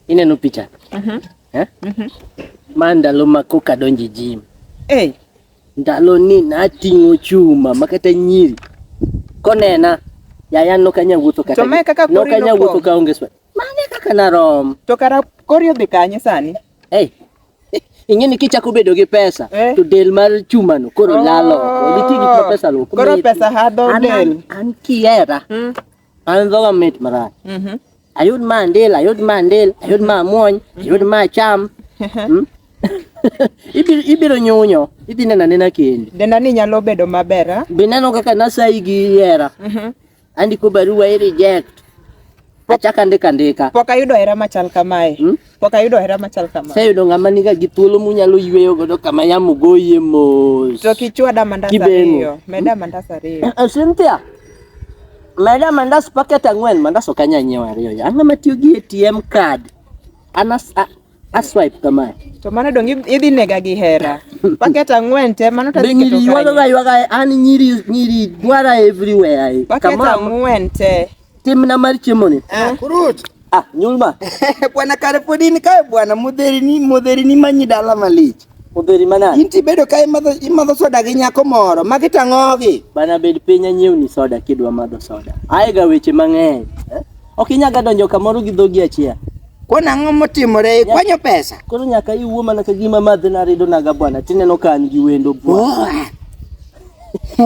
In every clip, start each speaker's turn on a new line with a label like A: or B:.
A: Ineno picha? Uh -huh. Eh? Uh -huh. Ma ndalo ma koka donje jim. Eh. Hey. Ndalo ni nating'o chuma makata nyiri. Konena yaya no kanya wuotho kata. To me kaka kori no kanya wuotho ka onge swa. Mane kaka na rom. To kara kori
B: odhi kanye sani? Eh. Hey.
A: ing'e ni kichako bedo gi pesa eh? to del mar chuma no koro oh, lalo nitie gik ma pesa luwo koro pesa hadho
B: del an kiera mm.
A: An dhoga mit marach. Mhm. Ayud ma ndil, ayud ma ndil, ayud ma muony, ayud ma cham. Mm. Ibiro ibiro nyunyo, idhi nena nena kendi. Denda ni nyalo bedo
B: maber, ah? Be neno kaka nasayi
A: gi hera. Mhm. Andiko barua i reject. Achaka ndika ndika. Pok ayudo hera machal
B: kamae. Mm. Pok ayudo hera machal
A: kama. Sayudo ng'ama niga gi thuolo munyalo yweyo godo kama yamo goye mos. To kichwada mandas
B: Kibeno. ariyo. Meda mandas ariyo. Eh, Cynthia,
A: meda mandas paket ang'wen, mandas ok anya nyiewo ariyo. ya. Ang'o matiyo gi ATM card? Anas a, a swipe kama. To mano dong idh-
B: idhi nega gi hera. Paket ang'wen te mano Be tadhi nyiri keto ywaga kanye. ywaga an
A: nyiri nyiri dwara everywhere. eh. Paket Kama ang'wen
B: te. Timna mar
A: chiemoni. Ah, kurut. Ah,
C: nyumba.
A: bwana
C: Karifudini kae bwana modherini modherini manyi dala malich. Modheri manade? Inti
A: bedo ka imadho
C: imadho soda gi nyako moro ma kitang'ogi. Bana bed piny
A: anyiewni soda kidwa madho soda. Aega weche mang'eny. Eh? Ok inyaga donjo kamoro gi dhogi achiel. Kona ang'o
C: motimore ikwanyo pesa? Koro nyaka iwuo mana
A: ka gima madhi narido naga bwana tineno ka an gi wendo bwana. Oh.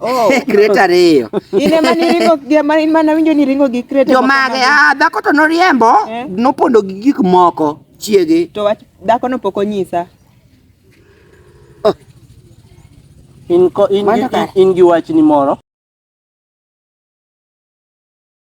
A: Oh, crate
C: ariyo. In ema niringo
B: gi ema in mana winjo ni ringo gi crate. Jomage, ah dhako
C: to noriembo, eh? nopondo gi gik moko chiege. To wach dhako no
B: pok onyisa.
A: Oh. In ko in, in, in gi wachni moro.